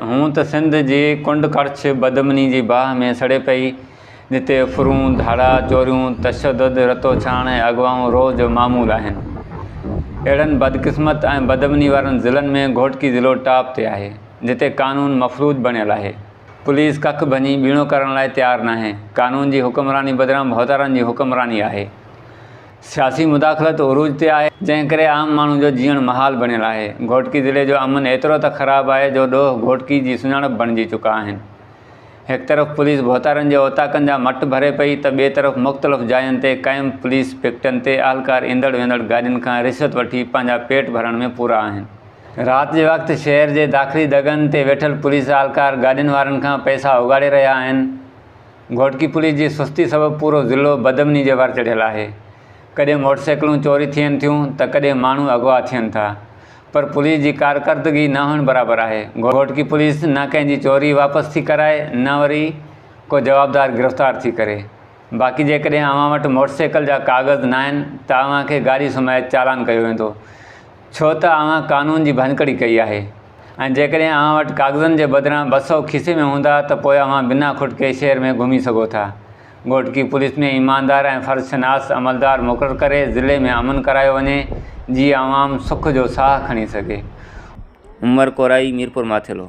هونء ته سنڌ جي ڪنڊ ڪڙڇ بدامني جي باهه ۾ سڙي پئي، جتي ڦرون، ڌاڙا، چوريون، تشدد، رتو ڇاڻ ۽ اغوائون روز جو معمول آهن. اهڙن بدقسمت ۽ بدامني وارن ضلعن ۾ گهوٽڪي ضلعو ٽاپ تي آهي، جتي قانون مفلوج بڻيل آهي. پوليس ڪک ڀڃي ٻيڻو ڪرڻ لاء تيار ناهي. قانون جي حڪمراني بدران ڀوتارن جي حڪمراني آهي. سياسي مداخلت عروج تي آهي، جنهن ڪري عام ماڻهو جو جيئڻ محال بڻيل آهي. گهوٽڪي ضلعي جو امن ايترو ته خراب آهي جو ڏوهه گهوٽڪي جي سڃاڻپ بڻجي چڪا آهن. هڪ طرف پوليس ڀوتارن جي اوطاقن جا مٽ ڀري پئي ته ٻئي طرف مختلف جاين تي قائم پوليس پڪٽن تي اهلڪار ايندڙ ويندڙ گاڏين کان رشوت وٺي پنهنجا پيٽ ڀرڻ ۾ پورا آهن. رات جي وقت شهر جي داخلي دڳن تي ويٺل پوليس اهلڪار گاڏين وارن کان پئسا اوڳاڙي رهيا آهن. گهوٽڪي پوليس جي سستي سبب پورو ضلعو بدامني جي وار چڙهيل آهي. ڪڏهن موٽر سائيڪلون چوري ٿين ٿيون ته ڪڏهن ماڻهو اغوا ٿين ٿا. پر پوليس جي ڪارڪردگي نه هئڻ برابر آهي. گهوٽڪي پوليس نه ڪنهن جي چوري واپس ٿي ڪرائي نه وري ڪو جوابدار گرفتار ٿي ڪري. باقي جيڪڏهن اوهان وٽ موٽر سائيڪل جا ڪاغذ ناهن ته اوهان کي گاڏي سميت چالان ڪيو ويندو. ڇو ته اوهان قانون جي ڀڃڪڙي ڪئي آهي ۽ جيڪڏهن اوهان وٽ ڪاغذن جي بدران ٻه سؤ کيسي ۾ هوندا ته پوء اوهان بنا کٽڪي شهر ۾ گهمي سگهو ٿا. گهوٽڪي پوليس ۾ ايماندار ۽ فرض شناس عملدار مقرر ڪري ضلعي ۾ امن ڪرايو وڃي جي عوام سک جو ساهه کڻي سگهي. عمر ڪورائي ميرپور ماٿيلو.